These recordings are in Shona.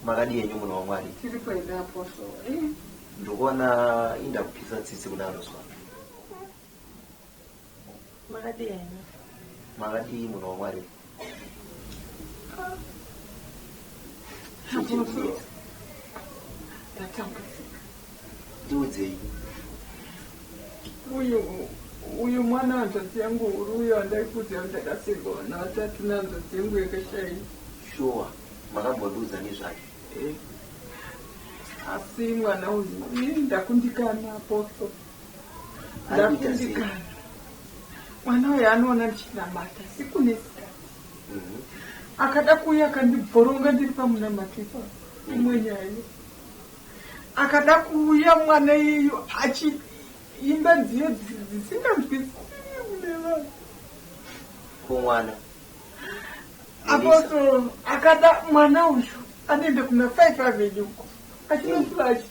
makadi yenyu munhu wamwari tiri kuenda apostle eh? ndikuona inda kupisa tsitsi kudaro zwa Makadii henyu? Makadii munhu waMwari? Zvichibudira. Ndatambudzika. Ndiudzei. Uyu uyu mwana hanzvadzi yangu huru uyo andaikuti andakasikwa vana vatatu nehanzvadzi yangu yakashai. Shuwa makambondiudza nezvake. Eh. Asi mwana uyu ndakundikana aposto. ndakundikana mwana uyo anoona ndichinamata sikunesika mhm. akada kuuya akandibhoronga ndiri pamunamato ipa imwe nyaya iyo akada kuuya mwana iyeyo achiimba dziyo dzisinganzwisiinevanhu kumwana apostle akada mwana uyu anoenda kuna five avenue uko achinosuva achii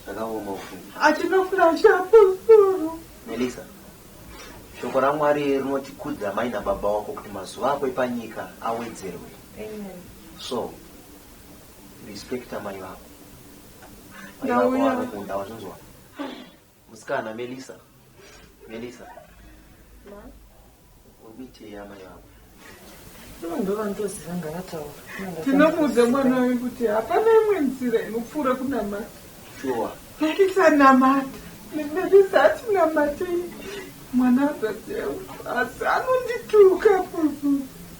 Zvakaoma ufunge. Achina flash up. Melissa. Shoko raMwari rinoti kudza mai nababa wako kuti mazuva ako epanyika awedzerwe. Amen. So respect mai vako. Mai vako vanokunda wazvinzwa. Musikana Melissa. Melissa. Ma. Umite yama yako. tinomuudza mwana wayo kuti hapana imwe nzira inopfuura kunamata shuwa naisanamata nemerisa atinamatei mwana azatewa asi anondituka kuku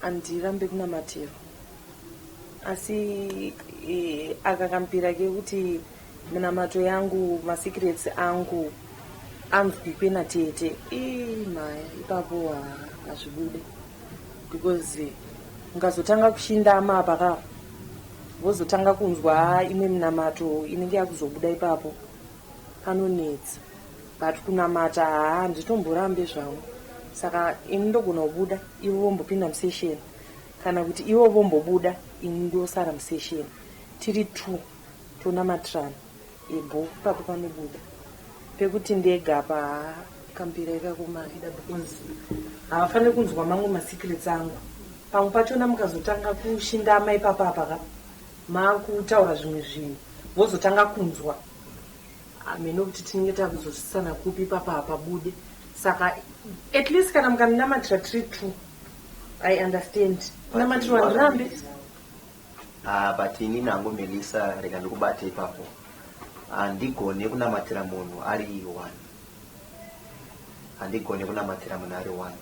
Handirambe kunamatiro asi aka kampira kekuti minamato yangu masecrets angu anzwikwe natete ii maya ipapo hazvibude because mukazotanga kushindama apa ka vozotanga kunzwa imwe minamato inenge yakuzobuda ipapo Panonetsa but kunamata haa handitomborambe zvangu saka ini ndogona kubuda ivo vombopinda musession kana kuti ivo vombobuda ini ndosara musession tiri two tonamatirana ebho papo panobuda pekuti ndega apa haa kambira ikakomaida because havafaniri kunzwa mamwe masecrets angu pamwe pachona mukazotanga kushindama ipapa apa ka Makutaura zvimwe zvinhu vozotanga kunzwa hameno kuti tinenge takuzosvisana kupi ipapa hapabude saka at least kana mukandinamatira tiri two i understand kunamatirwa ndirambe ah, but ini nangu melisa rega ndikubate ipapo handigone kunamatira munhu ari one handigone kunamatira munhu ari one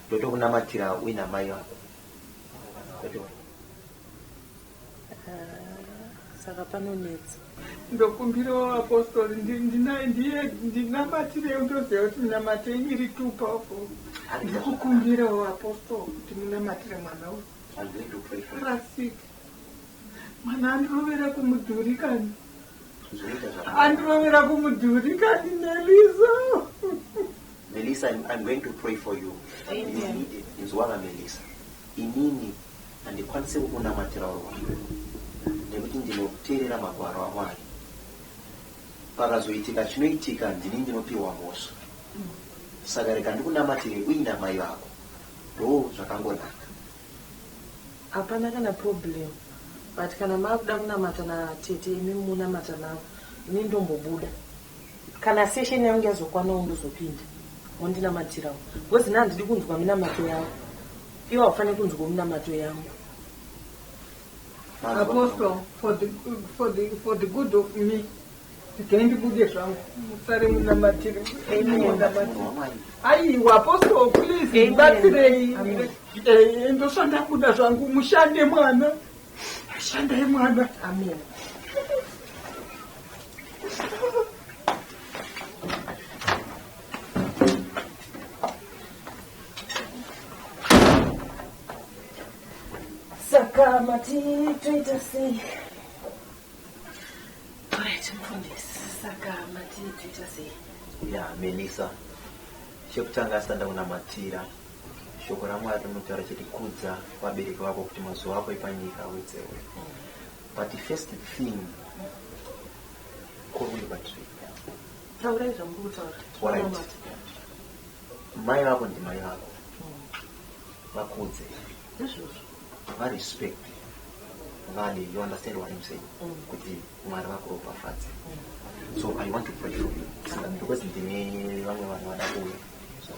ndotokunamatira uina mai vako saka panonetsa ndokumbirawo apostori ndinamatirei ndoziva kuti minamatei iri too powerful ndikukumbirawo apostori kuti munamatire mwana uyu rasik mwana andirovera kumudhuri kani andirovera kumudhuri kani nelizo Melisa I'm, I'm going to pray for you Amen. Inzwa vaMelisa inini handikwanise kukunamatira uri wako nekuti ndinoteerera magwaro amwari pakazoitika chinoitika ndini ndinopiwa mhosva saka rega ndikunamatire uina mai vako ndo zvakangonaka hapana kana problem but kana maakuda kunamata natete imi munamata navo ini ndombobuda Kana session yangu yazokwanawo ndozopinda mondinamatirawo because na handidi kunzwa minamato yavo iwo haufaniri kunzwawo minamato yangu Apostle, for the, for the, for the good of me regai ndibude zvangu musare munamatiri aiwa apostle please ndibatsirei eh, ndoshanda kuda zvangu mushande mwana shandai mwana amen Sakama titoita sei? Alright, mfundisi. Sakama titoita sei? Ya, Melissa. Chekutanga asanda kunamatira shoko ramwari rinotaura chete kudza vabereki vako kuti mazuva ako epanyika awedzerwe But the first thing, kurwei batiri. Taurai zvamuku kutaura. Alright. Mai vako ndi mai vako. Vakudze. Izvozvo. Va respect. Vale, you understand what I'm saying? Mm. Kuti mwari vako ropafadze. Mm. So I want to pray for you. Mm. Because ndine vamwe vanhu vada kuuya. So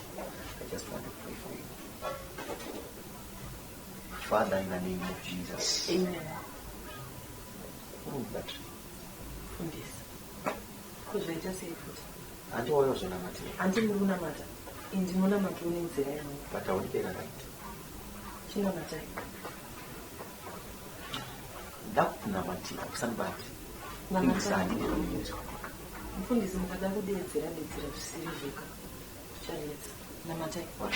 I just want to pray for you. Father, in the name of Jesus. Amen. Prove that. Fundisa. Kuzvaita sei futi? Hanti wauya kuzonamatira. Hanti muri kunamata. Ini ndinonamata une nzira yangu. But haudi pera right. Chinamatai. Ndakunamatira kusanibati. Namatai. Mfundisi mukada kudeedzera deedzera zvisiri zveka. Zvichanetsa. Namatai. What?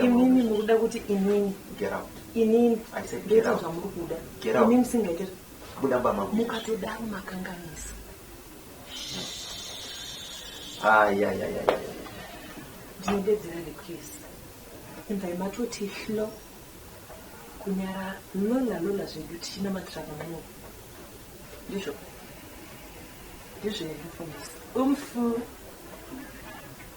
Imimi mukuda kuti inini. Get out. Inini. I said get out. Zvamuri kuda. Get out. Imimi singaite. Buda bama. Mukatodaro makanganisa. Ah, yeah, yeah, yeah, yeah. Ndinobedzera request. Imba imatoti hlo. Kunyara lola lola zvedu tichina matraka mwo. Ndizvo. Ndizvo yekufundisa. Umfu.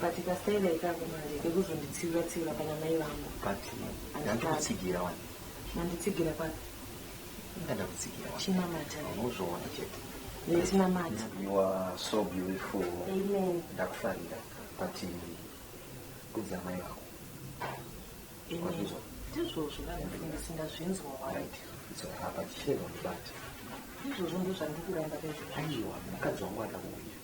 But kastaira ikako manje kekuzonditsiura tsiura pana mai vangu. But ndanditsigira wani. Manditsigira papi? Ndada kutsigira wani. China mata. Unozoona chete. China mata. You are so beautiful. Amen. Ndakufarira. But kudza mai vangu. Amen. Ndizvozvo vanhu singazvinzwa wani. It's a habit. Ndizvozvo ndozvandikuramba pezvo. Aiwa, mukadzi wangu adakuuya.